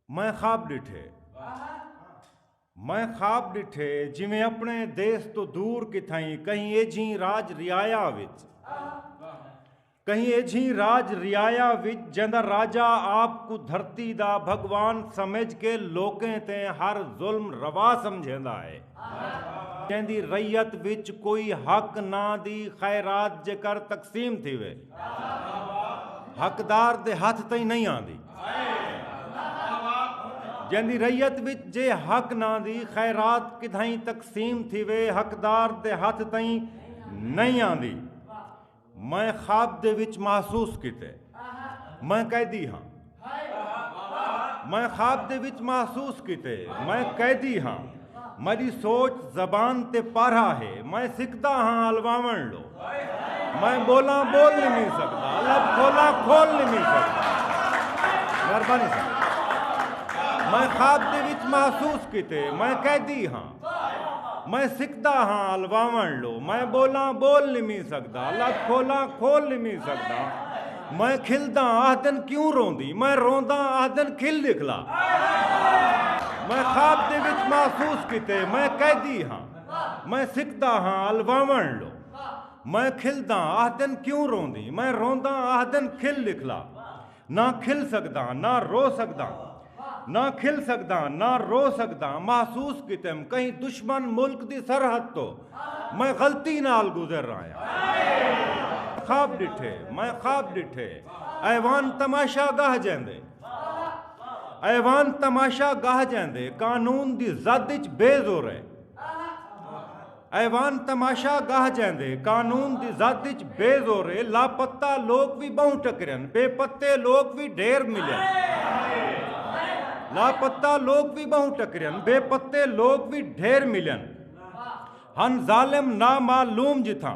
میں خواب ݙٹھے میں خواب ݙٹھے جویں اپݨے دیس توں دور کتھائیں کہیں ایجھیں راج ریایا وچ کہیں ایجھیں راج ریایا وچ جیندا راجہ آپ کو دھرتی دا بھگوان سمجھ کے لوکیں تے ہر ظلم روا سمجھیندا ہے جیندی ریت وچ کوئی حق نہ دی خیرات جے کر تقسیم تھیوے حقدار دے ہتھ تئیں نہیں آندی جیندی ریت وچ جے حق نہ دی خیرات کدھائیں تقسیم تھی وے حقدار دے ہتھ تئیں نہیں آندی میں خواب دے وچ محسوس کیتے میں قیدی ہاں میں خواب دے وچ محسوس کیتے میں قیدی ہاں میری سوچ زبان تے پارا ہے میں سکھدا ہاں الواون لو میں بولا بول نہیں مل سکتا لب کھولا کھول نہیں مل سکتا مہربانی صاحب میں خواب دے وچ محسوس کیتے میں قیدی ہاں میں سکھدا ہاں الواون لو میں بولا بول نہیں مل سکتا لب کھولا کھول نہیں مل سکتا میں کھلداں آہدن کیوں روندی میں رونداں آہدن کھل ݙکھلا میں خواب دے وچ محسوس کیتے میں قیدی ہاں میں سکھدا ہاں الواوݨ لو میں کھلداں آہدن کیوں روندی میں رونداں آہدن کھل ݙکھلا نہ کھل سکداں نہ رو سکداں نہ کھل سگداں نہ رو سگداں محسوس کیتم کہیں دشمن ملک دی سرحد تو میں غلطی نال گزر رہاں خواب ڈٹھے میں خواب ڈٹھے ایوان تماشا گاہ جیندے ایوان تماشا گاہ جیندے قانون دی زد اچ بے زور ہے ایوان تماشا گاہ جیندے قانون دی زد اچ بے زورے لاپتہ لوک وی ٻہوں ٹکرین بے پتے لوک وی ڈھیر ملین لاپتہ لوک وی ٻہوں ٹکرین بے پتے لوک وی ڈھیر ملین ہن ظالم نامعلوم جتھاں